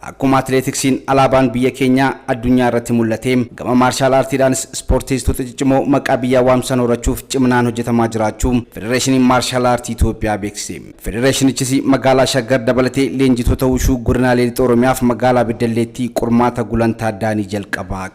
Akkuma atileetiksiin alaabaan biyya keenyaa addunyaa irratti mul'ate gama maarshaal aartiidhaanis ispoorteessitoota ciccimoo maqaa biyyaa waamsisan horachuuf ciminaan hojjetamaa jiraachuu Federeeshiniin Maarshaal Aartii Itoophiyaa beeksise. Federeeshinichis magaalaa Shaggar dabalatee leenjitoota wushuu godinaalee lixa Oromiyaaf magaalaa Beddalleetti qormaata gulantaa addaa ni jalqaba.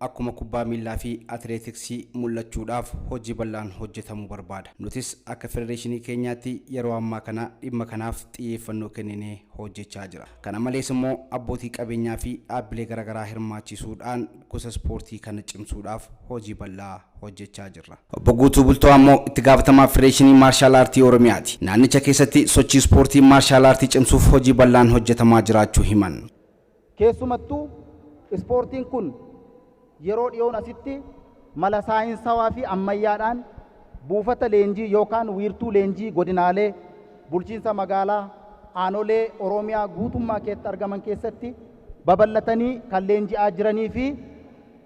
Akkuma kubbaa miillaa fi atileetiksii mul'achuudhaaf hojii bal'aan hojjetamuu barbaada. Nutis akka federeeshinii keenyaatti yeroo ammaa kana dhimma kanaaf xiyyeeffannoo kenninee hojjechaa jira. Kana malees immoo abbootii qabeenyaa fi dhaabbilee garagaraa hirmaachiisuu dhaan gosa ispoortii kana cimsuu dhaaf hojii bal'aa hojjechaa jirra. Obbo Guutuu Bultoo ammoo itti gaafatamaa Federeeshinii Maarshaal Aartii Oromiyaa ti. Naannicha keessatti sochii ispoortii Maarshaal Aartii cimsuuf hojii bal'aan hojjetamaa jiraachuu himan. Keessumattuu ispoortiin kun yeroo dhiyoon asitti mala saayinsawaa fi ammayyaadhaan buufata leenjii yookaan wiirtuu leenjii godinaalee, bulchiinsa magaalaa, aanolee Oromiyaa guutummaa keetti argaman keessatti babal'atanii kan leenji'aa jiranii fi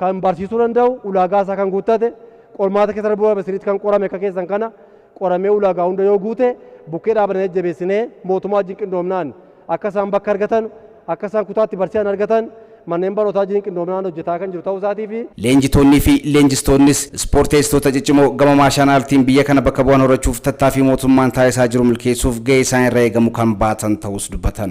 kan barsiisuu danda'u ulaagaa isaa kan guuttate qormaata keessa darbuu dhabe sirriitti kan qorame akka keessan kana qoramee ulaagaa hunda yoo guute bukkee dhaabannee jajjabeessinee mootummaa wajjin qindoomnaan akka isaan bakka argatan akka isaan kutaatti barsiisan argatan manneen barnootaa wajjin qindoomnaan hojjetaa kan jiru ta'uu isaatii fi Leenjitoonnii fi leenjistoonnis ispoorteessitoota ciccimoo gama maashaan aartiin biyya kana bakka bu'an horachuuf tattaaffii mootummaan taasisaa jiru milkeessuuf gahee isaan irra eegamu kan baatan ta'uus dubbatan.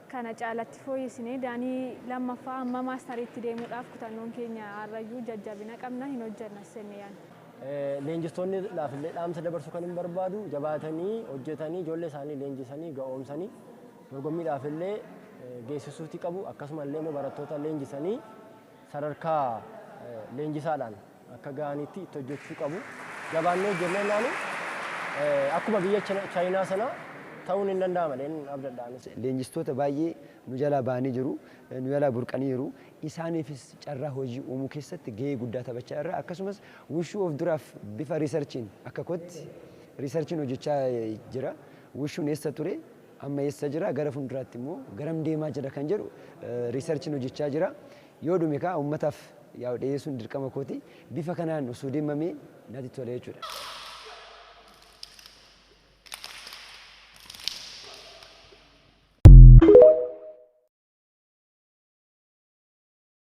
kana caalatti fooyyessinee Daanii 2ffaa hamma maastariitti deemuudhaaf kutannoon keenya har'ayyuu jajjabina qabna, hin hojjennas jennee yaadna. Leenjistoonni dhaafillee dhaamsa dabarsuu kanin barbaadu jabaatanii hojjetanii ijoollee isaanii leenjisanii ga'oomsanii dorgommii dhaafillee geessisuuti qabu akkasumallee immoo barattoota leenjisanii sadarkaa leenjisaadhaan akka ga'anitti itti hojjechuu qabu. Jabaannee jenneennaan akkuma biyya Chaayinaa sana ta'uun hin danda'ama jedheen abdadha anis. Leenjistoota baay'ee nu jalaa ba'anii jiru, nu jalaa burqaniiru. Isaaniifis carraa hojii uumuu keessatti gahee guddaa taphachaa jirra. Akkasumas Wushuu of duraaf bifa riisarchiin akka kootti riisarchiin hojjechaa jira. Wushuun eessa ture? Amma eessa jira? Gara fuulduraatti immoo garam deemaa jira kan jedhu riisarchiin hojjechaa jira. Yoo dhume kaa ummataaf yaa'u dhiyeessuun dirqama kooti. Bifa kanaan osoo deemamee natti tola jechuudha.